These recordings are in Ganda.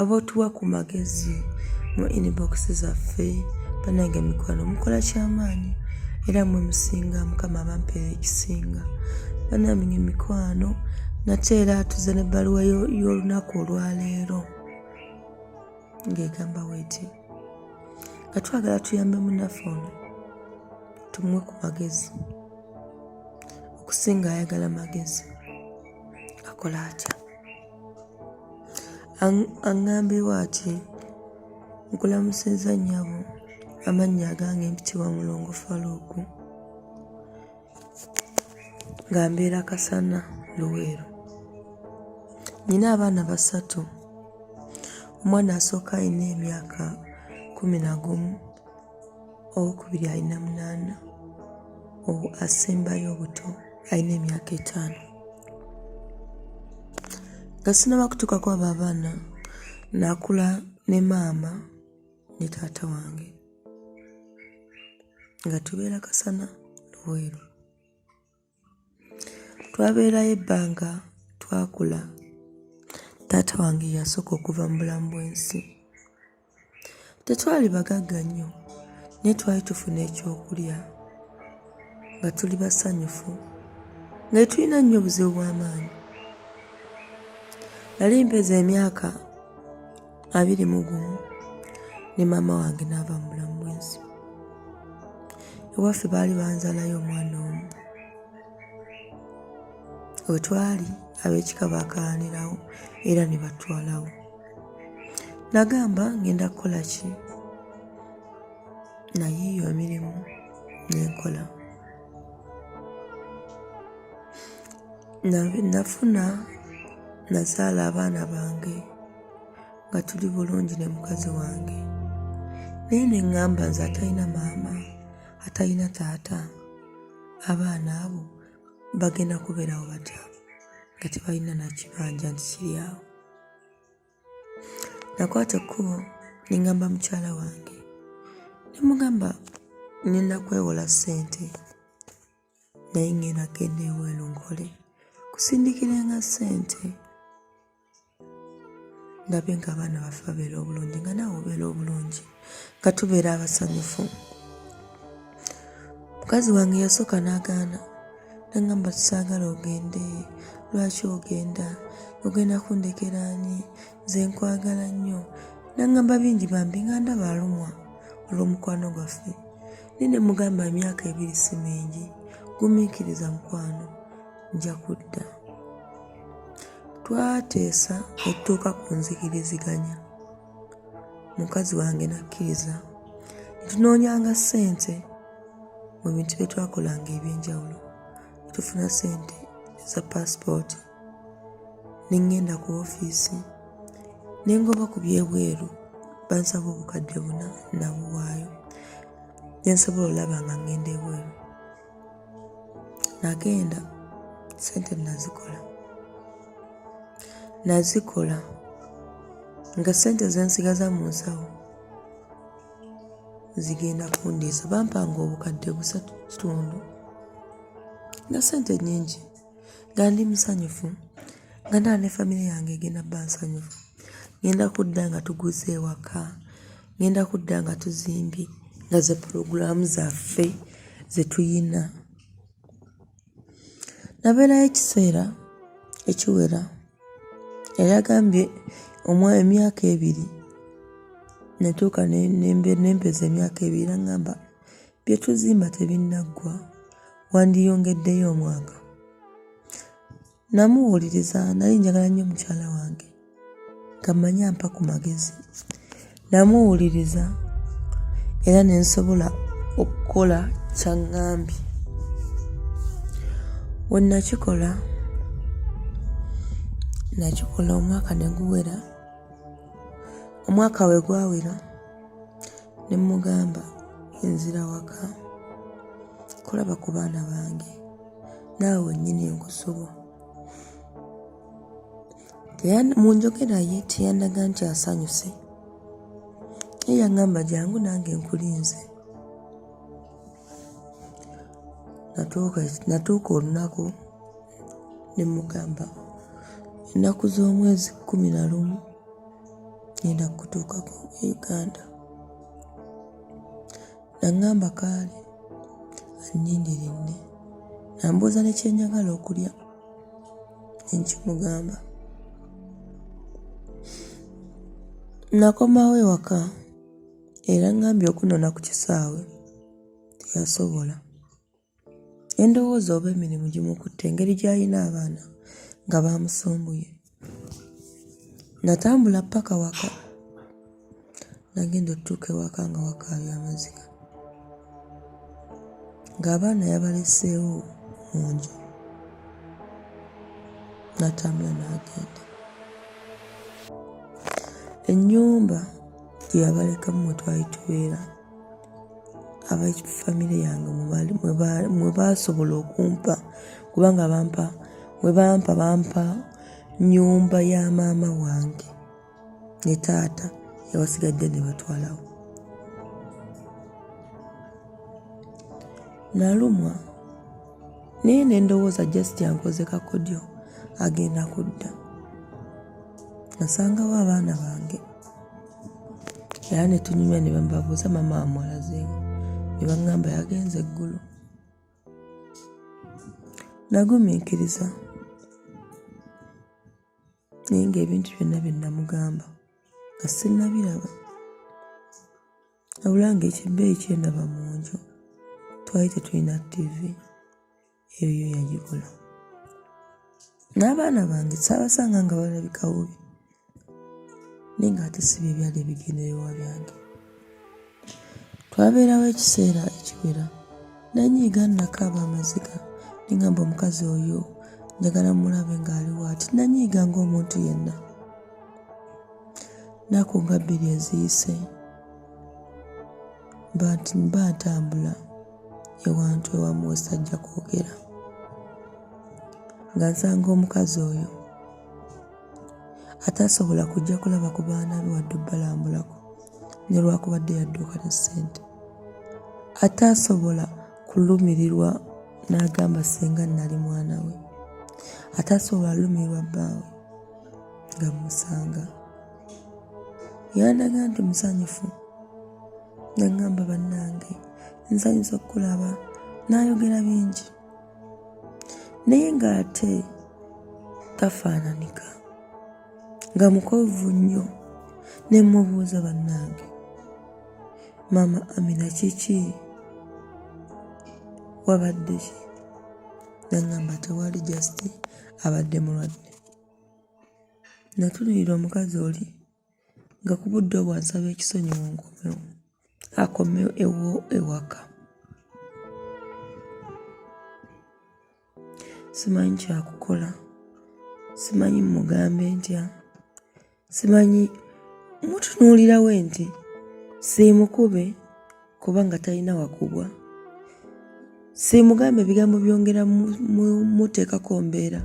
abotuwa ku magezi mu inbox zaffe banange mikwano mukola kyamaanyi era mwe musinga mukama abampeera ekisinga banamye mikwano nate era atuze ne bbaluwa y'olunaku olwaleero ng'egamba weti nga twagala tuyambe munaffe ono tumuwe ku magezi okusinga ayagala magezi akola atya aŋŋambibwa ati nkulamusizza nnyabo amannya agange mpitibwa mulongo faluuku nga mbeera kasana luweero nina abaana basatu omwana asooka alina emyaka kumi na gumu owokubiri alina munaana owo asembayo obuto alina emyaka etaano nga sinaba kutuukako abo abaana nakula ne maama ne taata wange nga tubeera kasana luweero Twabeerayo ebbanga twakula. Taata wange yasooka okuva mu bulamu bw'ensi. Tetwali bagagga nnyo naye twali tufuna ekyokulya nga tuli basanyufu nga tetulina nnyo obuzibu bw'amaanyi. Nali mpeza emyaka abiri mu gumu ne maama wange n'ava mu bulamu bwensi ewaffe baali banzalayo omwana omu wetwali ab'ekika baakaanirawo era ne batwalawo nagamba ngenda kukola ki nayiiyo emirimu nenkola nafuna nazaala abaana bange nga tuli bulungi ne mukazi wange naye ne ŋŋamba nze atalina maama atalina taata abaana abo bagenda kubeerawo batya nga tebalina nakibanja nti kiri awo nakwata ekkubo ne ŋŋamba mukyala wange ne mugamba nina kwewola ssente naye ng'eno agenda ewelu nkole kusindikirenga ssente ndabe nga abaana baffe babeera obulungi nga naawe obeera obulungi nga tubeera abasanyufu mukazi wange yasooka n'agaana nangamba tusaagala ogende lwaki ogenda ogenda kundekera ani nze nkwagala nnyo nangamba bingi bambi nga ndaba alumwa olw'omukwano gwaffe Naye ne mugamba emyaka ebiri si mingi, gumiikiriza mukwano, nja kudda. Twateesa ne tutuuka ku nzikiriziganya, mukazi wange n'akkiriza ne tunoonyanga ssente mu bintu bye twakolanga eby'enjawulo ne tufuna ssente eza paasipooti. ne ŋŋenda ku ofiisi ne ngoba ku byebweru bansaba obukadde buna nabuwaayo ne nsobola olaba nga ŋŋenda ebweru nagenda sente nazikola nazikola nga sente zensigaza mu nsawo zigenda kundiisa bampanga obukadde busatu kitundu nga sente nyingi nga ndi musanyufu nga ndaba ne famire yange egenda bba nsanyufu ŋenda kudda nga tuguze ewaka ŋenda kudda nga tuzimbye nga ze pulogulaamu zaffe ze tuyina nabeerayo ekiseera ekiwera yali agambye omwa emyaka ebiri natuuka nempeza emyaka ebiri nagamba bye tuzimba tebinnaggwa wandiyongeddeyo omwaka namuwuliriza nali njagala nnyo mukyala wange nga mmanyi ampa ku magezi namuwuliriza era ne nsobola okukola kyaŋŋambye we nakikola nakikola omwaka ne guwera omwaka we gwawera ne mmugamba enzira waka kulaba ku baana bange naawe wennyini enkusobo mu njogera ye teyandaga nti asanyuse ye yaŋŋamba jangu nange nkulinze natuuka olunaku ne mugamba ennaku z'omwezi kkumi na lumu ngenda kutuukako e uganda naŋŋamba kaale annindiridde nambuuza ne kyenjagala okulya enkimugamba nakomawo ewaka era ŋŋambye okunona ku kisaawe teyasobola endowooza oba emirimu gimukutte engeri gy'alina abaana nga baamusumbuye natambula paka waka nagenda otutuuka ewaka nga wakaabya amaziga ng'abaana yabaleseewo mu nju natambula n'agenda ennyumba gye yabalekamu mwe twali tubeera aba famire yange mwe baasobola okumpa kubanga bampa mwe bampa bampa nyumba ya maama wange ne taata yabasigadde ne batwalawo nalumwa naye ne ndowooza just ankoze kakodyo agenda kudda nasangawo abaana bange era ne tunyumya ne bambabuuza maama amulazeewo ne baŋŋamba yagenze eggulu nagumiikiriza naye ng'ebintu byonna bye namugamba nga sinnabiraba wabula ng'ekibbeeyi kyendaba mu nju twali tetulina ttivi eyo yo yagikola n'abaana bange saabasanga nga balabika bubi naye nga ate siba ebyali ebigenderewa byange twabeerawo ekiseera ekiwera nanyiiga nakaaba amaziga nengamba omukazi oyo njagala mulabe ng'aliwo ati nanyiiga ng'omuntu yenna naku nga bbiri eziyise mba ntambula ewantu ewamu wesajja kwogera nga nsanga omukazi oyo atasobola kujja kulaba ku baana be wadde obalambulako ne lwakubadde yadduuka ne ssente ataasobola kulumirirwa n'agamba ssenga nnali mwana we ataasobola lumirirwa bbaawe nga musanga yandaga nti musanyufu nengamba bannange nsanyusa okukulaba n'ayogera bingi naye ng'ate tafaananika nga mukovu nnyo ne mubuuza bannange maama amina kiki wabadde ki nangamba tewali just abadde mulwadde Natunuulira omukazi oli nga ku budde obwo ansaba ekisonyiwo nkomewo akomewo ewo ewaka simanyi kyakukola simanyi mugambe ntya simanyi mutunuulirawe nti siimukube kubanga talina wakubwa simugambe ebigambo byongera muteekako mbeera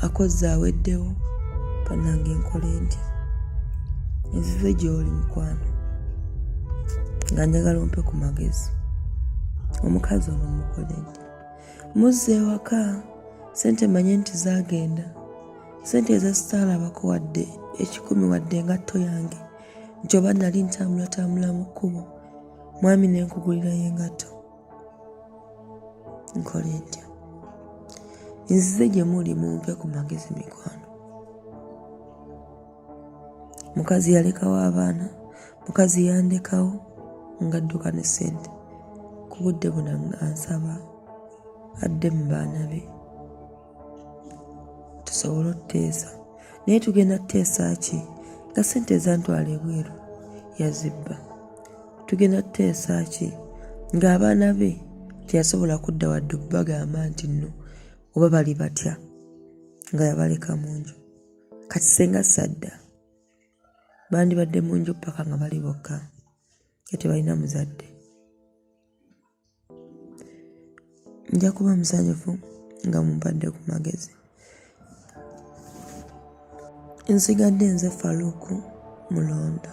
akozze aweddewo banange nkole ntya nzize gyoli mukwano nga njagala ompe ku magezi omukazi ono mukole ntya muzze ewaka sente manye nti zagenda sente ezasitaalabako wadde ekikumi wadde engatto yange nti oba nali ntambulatambula mu kkubo mwami ne nkugulirayo engatto nkola entya nzize gye muli mumpe ku magezi mikwano mukazi yalekawo abaana mukazi yandekawo ngadduka ne ssente ku budde buna ansaba adde mu baana be tusobole otuteesa naye tugenda tuteesa ki nga sente ezantwala ebweru yazibba tugenda tuteesa ki ng'abaana be teyasobola kudda wadde okubagamba nti nno oba bali batya nga yabaleka mu nju kati senga sadda bandibadde mu nju paka nga bali bokka nga tebalina muzadde nja kuba musanyufu nga mumpadde ku magezi nsigadde nze faluuku mulondo